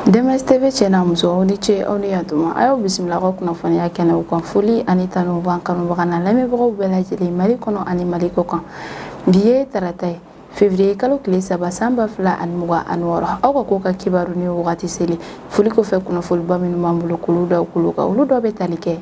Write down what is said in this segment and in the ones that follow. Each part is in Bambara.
DMS TV cɛ n'a muso aw ni ce aw ni yan tuma a y'aw bisimila aw ka kunnafoniya kɛnɛw kan foli ani tanu b'an kanubaga n'a lamɛnbagaw bɛɛ lajɛlen mali kɔnɔ ani mali kɔ kan bi ye tarata ye février kalo tile saba san ba fila ani mugan ani wɔɔrɔ aw ka kɔkan kibaru ni wagati selen foli kɔfɛ kunnafoniba minnu b'an bolo k'olu da tulo kan olu dɔ bɛ tali kɛ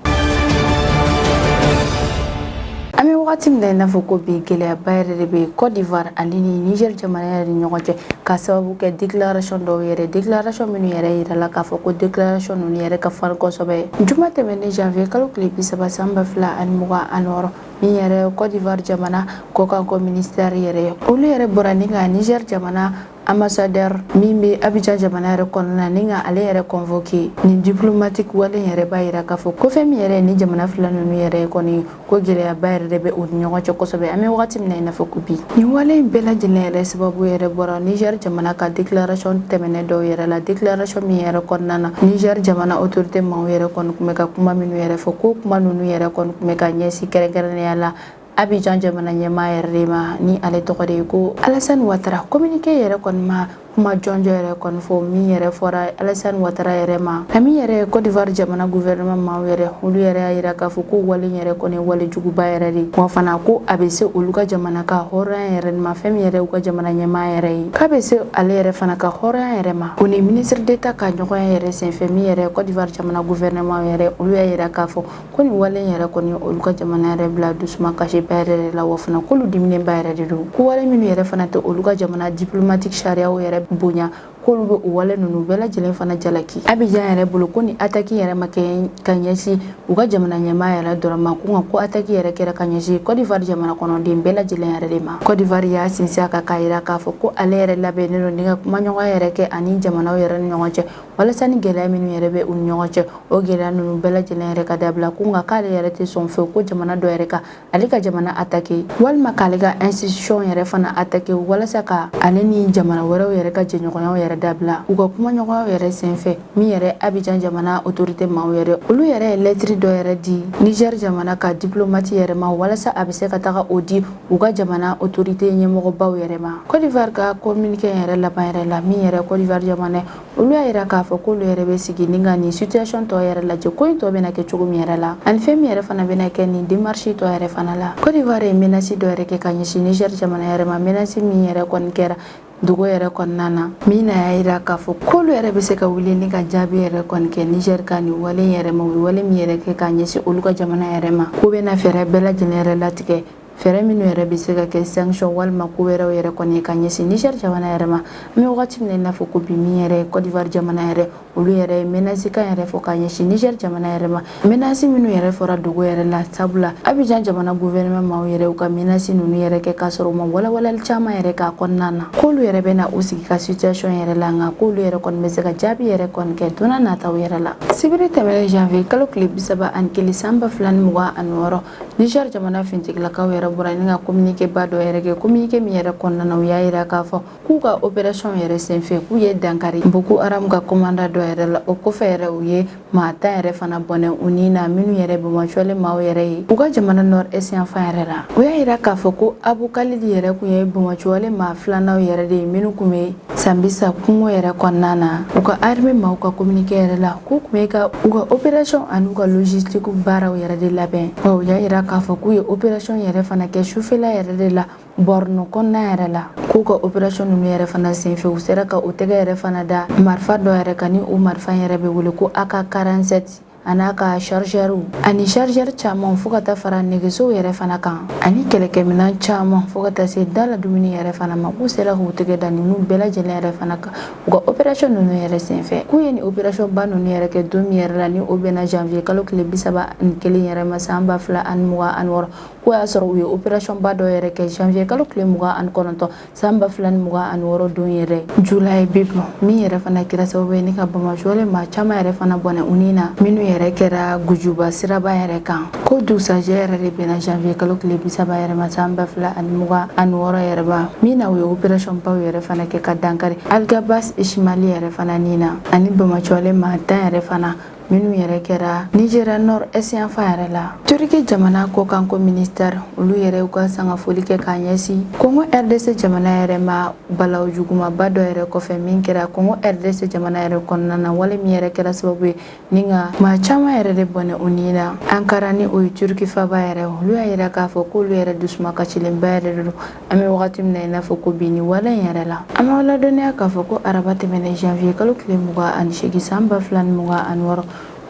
an bɛ wagati min na i n'a fɔ ko bi gɛlɛyaba yɛrɛ de bɛ Côte d'Ivoire ani Niger jamana yɛrɛ ni ɲɔgɔn cɛ ka sababu kɛ déclaration dɔw yɛrɛ déclaration minnu yɛrɛ yirala k'a fɔ ko déclaration ninnu yɛrɛ ka farin kosɛbɛ juma tɛmɛnen janvier kalo tile bi saba san ba fila ani mugan ani wɔɔrɔ min yɛrɛ Côte d'Ivoire jamana kɔkanko ministère yɛrɛ olu yɛrɛ bɔra ni ka Niger jamana Ambassadeur min bɛ Abidjan jamana yɛrɛ kɔnɔna ni ka ale yɛrɛ convoquer nin diplomatique wale in yɛrɛ b'a yira k'a fɔ ko fɛn min yɛrɛ ni jamana fila ninnu yɛrɛ kɔni ko gɛlɛyaba yɛrɛ de bɛ u ni ɲɔgɔn cɛ kosɛbɛ an bɛ wagati min na i n'a fɔ ko bi nin wale in bɛɛ lajɛlen yɛrɛ sababu yɛrɛ bɔra Niger jamana ka déclaration tɛmɛnen dɔw yɛrɛ la déclaration min yɛrɛ kɔnɔna na Niger jamana autorité maaw yɛrɛ kɔni tun bɛ ka kuma minnu yɛrɛ fɔ ko kuma ninnu yɛrɛ kɔni tun bɛ ka ɲɛsin kɛrɛnkɛrɛnnenya la Abidjan jamana ɲɛmaa yɛrɛ de ma ni ale tɔgɔ de ye ko Alassane Ouattara communiqué yɛrɛ kɔni ma kuma jɔnjɔn yɛrɛ kɔni fɔ min yɛrɛ fɔra Alassane Ouattara yɛrɛ ma a min yɛrɛ Côte d'Ivoire jamana gouvernement maaw yɛrɛ olu yɛrɛ y'a yira k'a fɔ ko wale yɛrɛ kɔni wale juguba yɛrɛ de wa fana ko a bɛ se olu ka jamana ka hɔrɔnya yɛrɛ ma fɛn min yɛrɛ u ka jamana ɲɛmaa yɛrɛ ye k'a bɛ se ale yɛrɛ fana ka hɔrɔnya yɛrɛ ma o ni ministre d'État ka ɲɔgɔnye yɛrɛ senfɛ min yɛrɛ Côte d'Ivoire jamana gouvernement yɛrɛ olu y'a yira k'a fɔ ko nin wale yɛrɛ kɔni olu ka jamana yɛrɛ bila dusumakasiba yɛrɛ de la wa fana k'olu diminenba yɛrɛ de don ko wale minnu yɛrɛ fana tɛ olu ka jamana diplomatique sariyaw yɛrɛ bonya k'olu bɛ o wale ninnu bɛɛ lajɛlen fana jalaki Abidjan yɛrɛ bolo ko nin attaque yɛrɛ ma kɛ ka ɲɛsin u ka jamana ɲɛmaa yɛrɛ dɔrɔn ma ko nka ko attaque yɛrɛ kɛra ka ɲɛsin Côte d'Ivoire jamana kɔnɔden bɛɛ lajɛlen yɛrɛ de ma Côte d'Ivoire y'a sinsin a kan k'a yira k'a fɔ ko ale yɛrɛ labɛnnen don ni ka kumaɲɔgɔnya yɛrɛ kɛ ani jamanaw yɛrɛ ni ɲɔgɔn cɛ walasa ni gɛlɛya minnu yɛrɛ bɛ u ni ɲɔgɔn cɛ o gɛlɛya ninnu bɛɛ lajɛlen yɛrɛ ka dabila ko nka k'ale yɛrɛ tɛ sɔn fewu ko jamana dɔ yɛrɛ ka ale ka jamana attaquer walima k'ale ka institution yɛrɛ fana attaquer walasa ka ale ni jamana wɛrɛw yɛrɛ ka jɛɲɔgɔnyaw yɛrɛ dabila u ka kumaɲɔgɔnyaw yɛrɛ senfɛ min yɛrɛ Abidjan jamana autorité maaw yɛrɛ olu yɛrɛ ye lettre dɔ yɛrɛ di Niger jamana ka diplomate yɛrɛ ma walasa a bɛ se ka taga o di u ka jamana autorité ɲɛmɔgɔbaw yɛrɛ ma Côte d'Ivoire ka communiqué yɛrɛ laban yɛrɛ la min yɛrɛ Côte d'Ivoire jamana olu y'a yira k'a fɔ k'olu yɛrɛ bɛ sigi ni ka nin situation tɔ yɛrɛ lajɛ ko in tɔ bɛna kɛ cogo min yɛrɛ la ani fɛn min yɛrɛ fana bɛna kɛ nin démarche tɔ yɛrɛ fana la Côte d'Ivoire ye menace dɔ yɛrɛ kɛ ka ɲɛsin Niger jamana yɛrɛ ma menace min yɛrɛ kɔni kɛra dogo yɛrɛ kɔnɔna na min na y'a yira k'a fɔ k'olu yɛrɛ bɛ se ka wuli ni ka jaabi yɛrɛ kɔni kɛ Niger ka nin wale yɛrɛ ma u ye wale min yɛrɛ kɛ k'a ɲɛsin olu ka jamana yɛrɛ ma k'u bɛna fɛɛrɛ bɛɛ lajɛlen yɛrɛ latigɛ fɛɛrɛ minnu yɛrɛ bɛ se ka kɛ sanction walima ko wɛrɛw yɛrɛ kɔni ye ka ɲɛsin Niger jamana yɛrɛ ma an bɛ wagati min na i n'a fɔ ko bi min yɛrɛ ye Cote d'Ivoire jamana yɛrɛ olu yɛrɛ ye menace kan yɛrɛ fɔ ka ɲɛsin Niger jamana yɛrɛ ma menace minnu yɛrɛ fɔra dogo yɛrɛ la sabula Abidjan jamana gouvernement maaw yɛrɛ u ka menace ninnu yɛrɛ kɛ k'a sɔrɔ u ma walawalali caman yɛrɛ k'a kɔnɔna na k'olu yɛrɛ bɛna u sigi ka situation yɛrɛ la nka k'olu yɛrɛ kɔni bɛ se ka jaabi yɛrɛ kɔni kɛ don nataw yɛrɛ la sibiri tɛmɛnen janvier kalo tile bisaba ani kelen san ba fila ni mugan ani wɔɔrɔ Niger jamana finitigilakaw yɛrɛ bɔra ni ka communiqué ba dɔ yɛrɛ kɛ communiqué min yɛrɛ kɔnɔna u y'a yira k'a fɔ k'u ka opération yɛrɛ senfɛ k'u ye dankari Boko Haram ka commandant dɔ yɛrɛ la o kɔfɛ yɛrɛ u ye maa tan yɛrɛ fana bɔnɛ u ni na minnu yɛrɛ banbaanci maaw yɛrɛ ye u ka jamana nord est yanfan yɛrɛ la u y'a yira k'a fɔ ko Abu Khalid yɛrɛ kun ye banbaanci maa filanan yɛrɛ de ye minnu kun bɛ Sambisa kungo yɛrɛ kɔnɔna na u ka arme maaw ka kominike yɛrɛ la k'u kun bɛ ka u ka operasiɔn an'u ka logistiki baaraw yɛrɛ de labɛn wa u y'a yira k'a fɔ k'u ye operasiɔn yɛrɛ fana kɛ sufɛla yɛrɛ de la Borno kɔnɔna yɛrɛ la k'u ka operasiɔn nunu yɛrɛ fana senfɛ u sera ka u tɛgɛ yɛrɛ fana da marifa dɔ yɛrɛ kan ni o marifa yɛrɛ bɛ wele ko ak 47 a n'a ka chargeurw ani chargeur caman fo ka taa fara nɛgɛsow yɛrɛ fana kan ani kɛlɛkɛminan caman fo ka taa se da la dumuni yɛrɛ fana ma k'u sera k'u tɛgɛ da ninnu bɛɛ lajɛlen yɛrɛ fana kan u ka operasiyɔn ninnu yɛrɛ senfɛ k'u ye nin operasiyɔn ba ninnu yɛrɛ kɛ don min yɛrɛ la ni o bɛnna janvier kalo tile bi saba ni kelen yɛrɛ ma san ba fila ani mugan ani wɔɔrɔ k'o y'a sɔrɔ u ye operasiyɔn ba dɔ yɛrɛ kɛ janvier kalo tile mugan ani kɔnɔntɔn san ba fila ni mugan ani wɔɔrɔ don yɛrɛ Julaibib min yɛrɛ fana kɛra sababu ye ni ka banbaanci maa caman yɛrɛ fana bɔnɛ u ni na minnu yɛrɛ kɛra gujuba siraba yɛrɛ kan k'o dugusajɛ yɛrɛ de bɛnna janvier kalo tile bisaba yɛrɛ ma san ba fila ani mugan ani wɔɔrɔ yɛrɛ ma min na u ye operasiyɔn baw yɛrɛ fana kɛ ka dankari algabas ishimali yɛrɛ fana ni na ani banbaanci maa tan yɛrɛ fana minnu yɛrɛ kɛra Nigeria nord est yanfan yɛrɛ la turiki jamana kɔkanko ministɛri olu yɛrɛ ka sangafoli kɛ k'a ɲɛsin kongo rdc jamana yɛrɛ ma balawu jugumaba dɔ yɛrɛ kɔfɛ min kɛra kongo rdc jamana yɛrɛ kɔnɔna na wale min yɛrɛ kɛra sababu ye ni ka maa caman yɛrɛ de bɔnɛ u ni na ankara ni o ye turiki faba yɛrɛ olu y'a yira k'a fɔ k'olu yɛrɛ dusuma kasilenba yɛrɛ de don an bɛ wagati min na i n'a fɔ ko bi ni wale in yɛrɛ la an b'aw ladɔnniya k'a fɔ ko araba tɛmɛnen janvier kalo tile mugan ani seegin san ba fila ni mugan ani wɔɔrɔ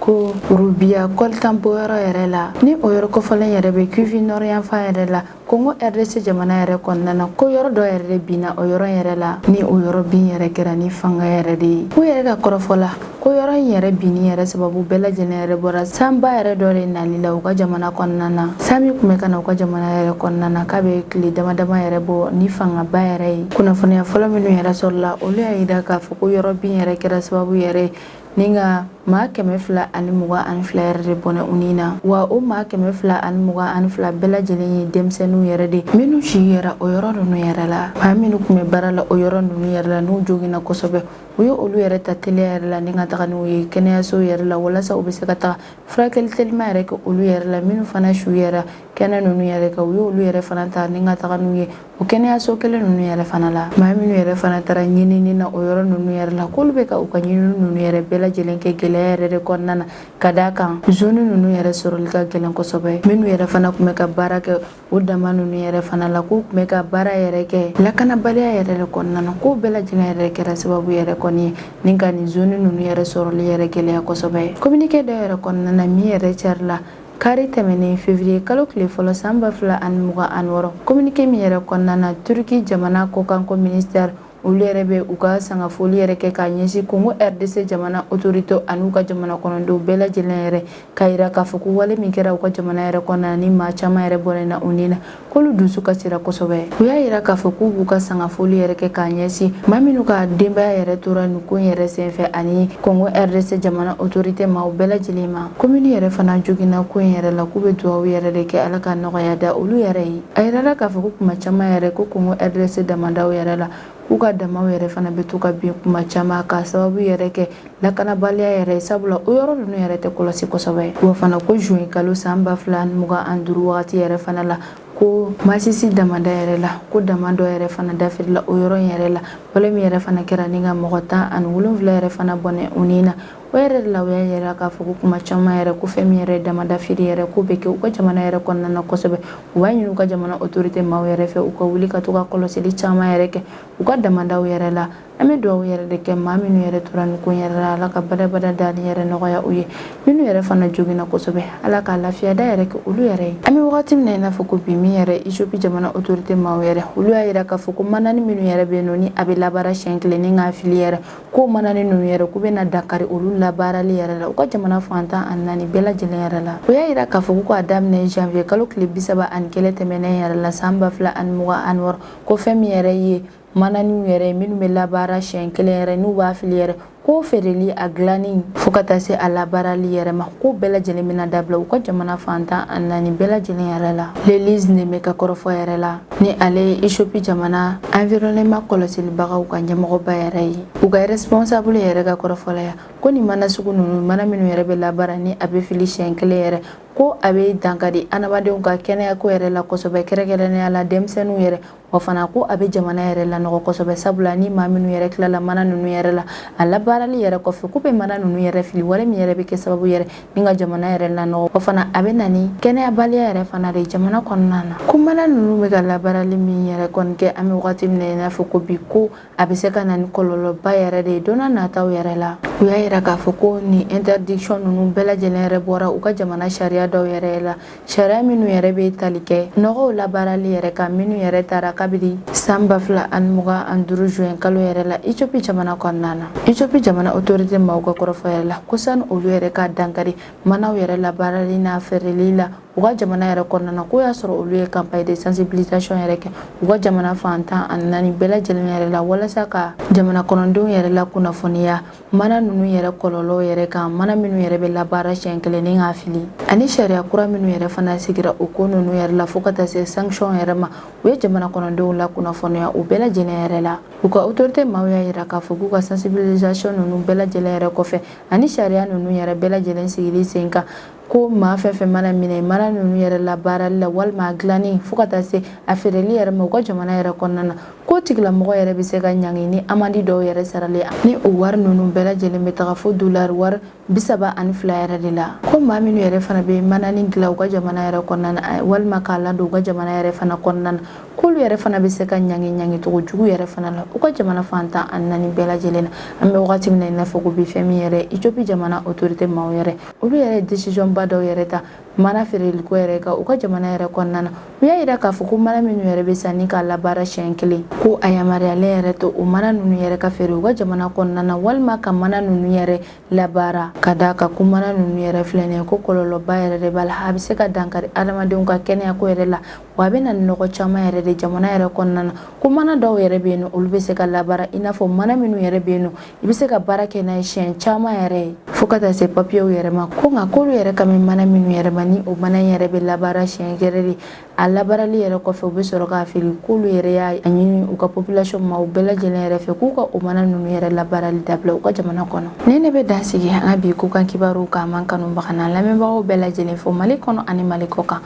ko rubiya kɔlitan bɔyɔrɔ yɛrɛ la ni o yɔrɔ kofɔlen yɛrɛ bɛ Kivu nord yanfan yɛrɛ la kongo rdc jamana yɛrɛ kɔnɔna na ko yɔrɔ dɔ yɛrɛ de binna o yɔrɔ yɛrɛ la ni o yɔrɔ bin yɛrɛ kɛra ni fanga yɛrɛ de ye u yɛrɛ ka kɔrɔfɔ la ko yɔrɔ in yɛrɛ binni yɛrɛ sababu bɛɛ lajɛlen yɛrɛ bɔra sanba yɛrɛ dɔ de nali la u ka jamana kɔnɔna na san min tun bɛ ka na u ka jamana yɛrɛ kɔnɔna na k'a bɛ tile dama dama yɛrɛ bɔ ni fangaba yɛrɛ ye kunnafoniya fɔlɔ minnu yɛrɛ sɔrɔla olu y'a jira k'a fɔ ko yɔrɔ bin yɛrɛ kɛra sababu yɛrɛ ni ka maa kɛmɛ fila ani mugan ani fila yɛrɛ de bɔnɛ u ni na wa o maa kɛmɛ fila ani mugan ani fila bɛɛ lajɛlen ye denmisɛnninw yɛrɛ de minnu si yɛrɛ o yɔrɔ ninnu yɛrɛ la maa minnu tun bɛ baara la o yɔrɔ ninnu yɛrɛ la n'u joginna kosɛbɛ u ye olu yɛrɛ ta teliya yɛrɛ la ni ka taga n'u ye kɛnɛyasow yɛrɛ la walasa u bɛ se ka taga furakɛli telima yɛrɛ kɛ olu yɛrɛ la minnu fana su yɛrɛ kɛnɛ ninnu yɛrɛ kɛ u ye olu yɛrɛ fana ta ni ka taga n'u ye o kɛnɛyaso kelen ninnu yɛrɛ fana la maa minnu yɛrɛ fana taara ɲinini na o yɔrɔ ninnu yɛrɛ la k'olu bɛ ka u ka ɲinini ninnu yɛrɛ bɛɛ lajɛlen kɛ gɛlɛya yɛrɛ de kɔnɔna na ka d'a kan zoni ninnu yɛrɛ sɔrɔli ka gɛlɛn kosɛbɛ minnu yɛrɛ fana tun bɛ ka baara kɛ O dama ninnu yɛrɛ fana la k'u tun bɛ ka baara yɛrɛ kɛ lakanabaliya yɛrɛ de kɔnɔna na k'o bɛɛ lajɛlen yɛrɛ kɛra sababu yɛrɛ kɔni ye ni ka nin zone ninnu yɛrɛ sɔrɔli yɛrɛ gɛlɛya kosɛbɛ communiqué dɔ yɛrɛ kɔnɔna na min yɛrɛ carila kari tɛmɛnen février kalo tile fɔlɔ san ba fila ani mugan ani wɔɔrɔ communiqué min yɛrɛ kɔnɔna na Turki jamana kɔkanko ministère olu yɛrɛ bɛ u ka sangafoli yɛrɛ kɛ k'a ɲɛsin kongo rdc jamana otorite an'u ka jamana kɔnɔdenw bɛɛ lajɛlen yɛrɛ k'a yira k'a fɔ ko wale min kɛra u ka jamana yɛrɛ kɔnɔna ni maa caman yɛrɛ bɔnɛna u ni na k'olu dusu kasira kosɛbɛ u y'a yira k'a fɔ k'u b'u ka sangafoli yɛrɛ kɛ k'a ɲɛsin maa minnu ka denbaya yɛrɛ tora nin ko yɛrɛ senfɛ ani kongo rdc jamana otorite maaw bɛɛ lajɛlen ma ko minnu yɛrɛ fana joginna ko yɛrɛ la k'u bɛ dugawu yɛrɛ de kɛ ala ka nɔgɔya da olu yɛrɛ ye A yirala k'a fɔ ko kuma caman yɛrɛ ko kongo rdc damadaw yɛrɛ la k'u ka damaw yɛrɛ fana bɛ to ka bin kuma caman k'a sababu yɛrɛ kɛ lakanabaliya yɛrɛ sabula o yɔrɔ ninnu yɛrɛ tɛ kɔlɔsi kosɛbɛ ye wa fana ko juin kalo san ba fila ni mugan ani duuru wagati yɛrɛ fana la ko masisi damada yɛrɛ la ko dama dɔ yɛrɛ fana dafirila o yɔrɔ in yɛrɛ la wale min yɛrɛ fana kɛra ni ka mɔgɔ tan ani wolonwula yɛrɛ fana bɔnɛ u ni na O yɛrɛ de la u y'a yira k'a fɔ ko kuma caman yɛrɛ ko fɛn min yɛrɛ damadafiri yɛrɛ ko bɛ kɛ u ka jamana yɛrɛ kɔnɔna na kosɛbɛ u b'a ɲini u ka jamana otorite maaw yɛrɛ fɛ u ka wuli ka to ka kɔlɔsili caman yɛrɛ kɛ u ka damadaw yɛrɛ la an bɛ dugawu yɛrɛ de kɛ maa minnu yɛrɛ tora nin ko yɛrɛ la ala ka badabada dali yɛrɛ nɔgɔya u ye minnu yɛrɛ fana joginna kosɛbɛ ala ka lafiya da yɛrɛ kɛ olu yɛrɛ ye an bɛ wagati min na i n'a fɔ ko bi min yɛrɛ etiyopi jamana otorite maaw yɛrɛ olu y'a jira k'a fɔ ko manani minnu yɛrɛ bɛ nɔ ni a bɛ labaara siɲɛ kelen ni k'a fili yɛrɛ ko manani ninnu yɛrɛ k'u bɛna dankari olu labaarali yɛrɛ la u ka jamana fan tan ani naani bɛɛ lajɛlen yɛrɛ la u y'a yira k'a fɔ ko k'a daminɛ janvier kalo tile bisaba ani kelen tɛmɛnen yɛrɛ la san ba fila ani mugan ani wɔɔrɔ ko fɛn min yɛrɛ ye mananiw yɛrɛ ye minnu bɛ labaara siɲɛ kelen yɛrɛ n'u b'a fili yɛrɛ k'o feereli a dilanni fo ka taa se a labaarali yɛrɛ ma k'o bɛɛ lajɛlen bɛna dabila u ka jamana fan tan ani naani bɛɛ lajɛlen yɛrɛ la Lelise Neme ka kɔrɔfɔ yɛrɛ la ni ale ye Ethiopie jamana environnement kɔlɔsilibagaw ka ɲɛmɔgɔba yɛrɛ ye u ka responsable yɛrɛ ka kɔrɔfɔlaya ko nin mana sugu ninnu mana minnu yɛrɛ bɛ labaara ni a bɛ fili siɲɛ kelen yɛrɛ ko a bɛ dankari adamadenw ka kɛnɛyako yɛrɛ la kosɛbɛ kɛrɛnkɛrɛnnenya la denmisɛnninw yɛrɛ wa fana ko a bɛ jamana yɛrɛ lanɔgɔ kosɛbɛ sabula ni maa minnu yɛrɛ tilala mana ninnu yɛrɛ la a labaarali yɛrɛ kɔfɛ k'u bɛ mana ninnu yɛrɛ fili wale min yɛrɛ bɛ kɛ sababu yɛrɛ ni ka jamana yɛrɛ lanɔgɔ o fana a bɛ na ni kɛnɛyabaliya yɛrɛ fana de jamana kɔnɔna na ko mana ninnu bɛ ka labaarali min yɛrɛ kɔni kɛ an bɛ wagati min na i n'a fɔ ko bi ko a bɛ se ka na ni kɔlɔlɔba yɛrɛ de ye don n'a nataw yɛrɛ la u y'a yira k'a fɔ ko nin interdiction ninnu bɛɛ lajɛlen yɛrɛ bɔra u ka jamana sariya dɔw yɛrɛ la sariya minnu yɛrɛ bɛ tali kɛ nɔgɔw labaarali yɛrɛ kan minnu yɛrɛ tara kabiri san ba fila ani mugan ani duuru juin kalo yɛrɛ la ethiopie jamana kɔnɔna na ethiopie jamana autorité maaw ka kɔrɔfɔ yɛrɛ la ko sani olu yɛrɛ ka dankari manaw yɛrɛ labaarali n'a feereli la u ka jamana yɛrɛ kɔnɔna na k'o y'a sɔrɔ olu ye campagne de sensibilisation yɛrɛ kɛ u ka jamana fan tan ani naani bɛɛ lajɛlen yɛrɛ la walasa ka jamana kɔnɔdenw yɛrɛ lakunnafoniya Mana ninnu yɛrɛ kɔlɔlɔw yɛrɛ kan mana minnu yɛrɛ bɛ labaara siɲɛ kelen ni k'a fili ani sariya kura minnu yɛrɛ fana sigira o ko ninnu yɛrɛ la fo ka taa se sanction yɛrɛ ma u ye jamana kɔnɔdenw lakunnafoniya o bɛɛ lajɛlen yɛrɛ la u ka autorité maaw y'a yira k'a fɔ k'u ka sensibilisation ninnu bɛɛ lajɛlen yɛrɛ kɔfɛ ani sariya ninnu yɛrɛ bɛɛ lajɛlen sigili sen kan ko maa fɛn fɛn mana minɛ mana ninnu yɛrɛ labaarali la walima a dilanni fo ka taa se a feereli yɛrɛ ma u ka jamana yɛrɛ kɔnɔna na k'o tigilamɔgɔ yɛrɛ bɛ se ka ɲangi ni amandi dɔw yɛrɛ sarali ni o wari ninnu bɛɛ lajɛlen bɛ taga fo dolari wari bisaba ani fila yɛrɛ de la ko maa minnu yɛrɛ fana bɛ mana nin dilan u ka jamana yɛrɛ kɔnɔna na eh, walima k'a ladon u ka jamana yɛrɛ fana kɔnɔna na k'olu yɛrɛ fana bɛ se ka ɲangi ɲangi cogo jugu yɛrɛ fana la u ka jamana fan tan ani naani bɛɛ lajɛlen na an bɛ wagati min na i n'a fɔ ko bi fɛn min yɛrɛ Ethiopie jamana autorité maaw yɛrɛ olu yɛrɛ décision ba dɔw yɛrɛ ta mana feereliko yɛrɛ kan u ka jamana yɛrɛ kɔnɔna na u y'a yira k'a fɔ ko mana minnu yɛrɛ bɛ san ni k'a labaara siɲɛ kelen ko a yamaruyalen yɛrɛ tɛ o mana ninnu yɛrɛ ka feere u ka jamana kɔnɔna na walima ka mana ninnu yɛrɛ labaara ka d'a kan ko mana ninnu yɛrɛ filɛ nin ye ko kɔlɔlɔba yɛrɛ de b'a la a bɛ se ka dankari adamadenw ka kɛnɛyako yɛrɛ la wa a bɛ na ni nɔgɔ caman yɛrɛ de jamana yɛrɛ kɔnɔna na ko mana dɔw yɛrɛ bɛ yen nɔ olu bɛ se ka labaara i n'a fɔ mana minnu yɛrɛ bɛ yen nɔ i bɛ se ka baara kɛ n'a ye siɲɛ caman yɛrɛ ye fo ka taa se papiyew yɛrɛ ma ko nka k'olu yɛrɛ kan bɛ mana minnu yɛrɛ ma ni o mana in yɛrɛ bɛ labaara siɲɛ kelen de a labaarali yɛrɛ kɔfɛ u bɛ sɔrɔ k'a fili k'olu yɛrɛ y'a ɲini u ka population ma u bɛɛ lajɛlen yɛrɛ fɛ k'u ka o mana ninnu yɛrɛ labaarali dabila u ka jamana kɔnɔ ne ne bɛ dan sigi an ka bi kɔkan kibaruw kan n b'an kanubagaw n'an lamɛnbagaw bɛɛ lajɛlen fo mali kɔnɔ ani mali kɔkan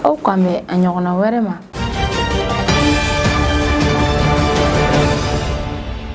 aw k'an bɛn a ɲɔgɔnna wɛrɛ ma